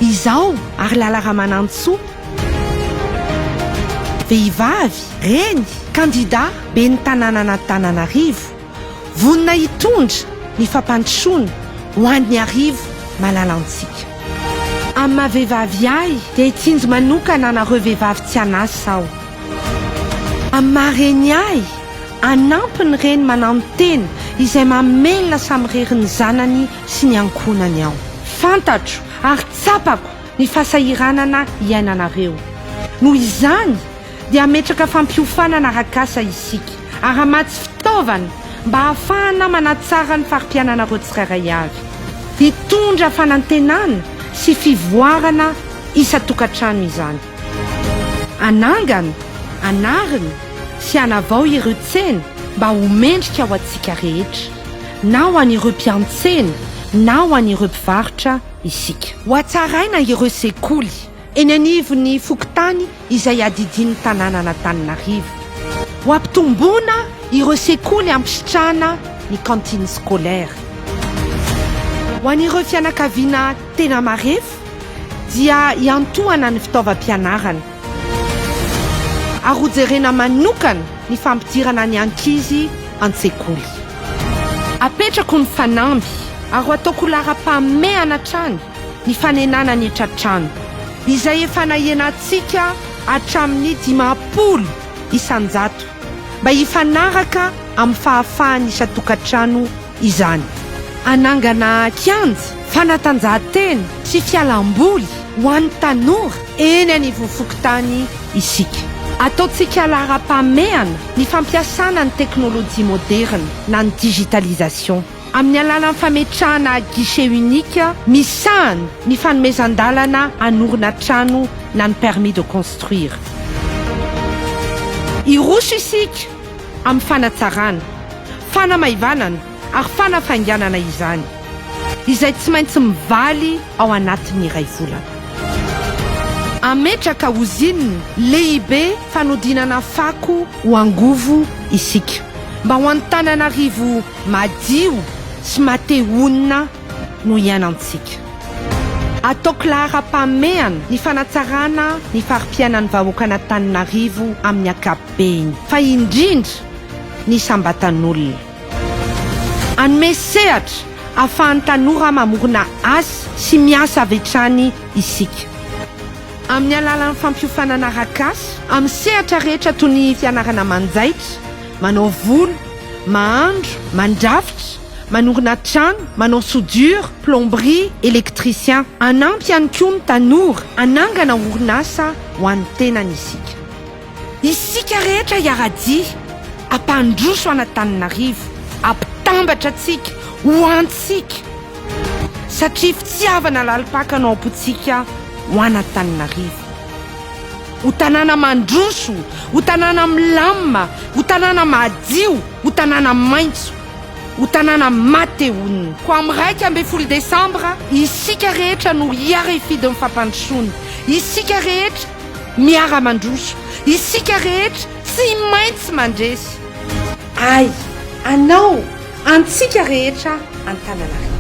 Izaho ary Lala Ramanantsoa, vehivavy, reny, kandida ben'ny tanànan'Antananarivo. Vonona hitondra ny fampandrosoana ho an'ny arivo malalantsika. Amin'ny maha vehivavy ahy dia hitsinjo manokana anareo vehivavy tsy an'asa aho. Amin'ny maha reny ahy, hanampy ny reny mananontena izay mamelona samirery ny zanany sy ny ankohonany aho. Fantatro ary tsapako ny fahasahiranana iainanareo. Noho izany, dia hametraka fampiofanana arak'asa isika, ary hamatsy fitaovana mba hahafahana manatsara ny fari-piananareo tsirairay avy. Hitondra fanantenana sy fivoarana isan-tokantrano izany. Hanangana, hanarina sy hanavao ireo tsena mba ho mendrika ho antsika rehetra, na ho an'ireo mpiantsena na ho an'ireo mpivarotra isika. Hohatsaraina ireo sekoly Eny anivon'ny fokontany izay iadidian'ny tanànan'Antananarivo. Ho ampitomboina ireo sekoly hampisitrahana ny cantine scolaire. Ho an'ireo fianakaviana tena marefo dia hiantohana ny fitaovam-pianarana ary hojerena manokana ny fampidirana ny ankizy an-tsekoly. Apetrako ny fanamby ary ho ataoko laharam-pahamehana hatrany ny fanenana ny tra-trano izay efa nahenantsika hatramin'ny dimampolo isan-jato mba hifanaraka amin'ny fahafahan'ny isan-tokantrano izany. Hanangana kianja fanatanjahantena sy fialamboly ho an'ny tanora eny anivon'ny fokontany isika. Ataontsika laharam-pahamehana ny fampiasana ny teknolojia moderina na ny digitalisation. amin'ny alalan'ny fametrahana guichet unique misahana ny fanomezan-dalana hanorina trano na ny permis de construire. Hiroso isika amin'ny fanatsarana, fanamaivanana ary fanafainganana izany, izay tsy maintsy mivaly ao anatin'ny iray volana. Hametraka ozinina lehibe fanodinana fako ho angovo isika, mba ho an'Antananarivo Madio sy mate-honina no iainantsika. Ataoko laharam-pahamehana ny fanatsarana ny fari-piainan'ny vahoakan'Antananarivo amin'ny ankapobeny, fa indrindra ny isam-batan'olona. Hanome sehatra ahafahan'ny tanora mamorona asa sy miasa avy hatrany isika, amin'ny alalan'ny fampiofanana arak'asa amin'ny sehatra rehetra toy ny fianarana manjaitra, Manao volo, mahandro, mandrafitra, manongona trano, manao soudure, plomberie, électricien. Hanampy ihany koa ny tanora hanangana orinasa ho an'ny tenany isika. Isika rehetra hiara-dia hampandroso an'Antananarivo, hampitambatra antsika ho antsika satria fitiavana lalim-paka no ampontsika ho an'Antananarivo. Ho tanàna mandroso, ho tanàna milamina, ho tanàna madio, ho tanàna maitso, ho tanàna matehonina. Koa amin'ny iraika ambin'ny folo desambra, isika rehetra no hiara-hifidy ny fampandrosoana. Isika rehetra miara-mandroso. Isika rehetra tsy maintsy mandresy. Ahy, anao, Antsika rehetra Antananarivo.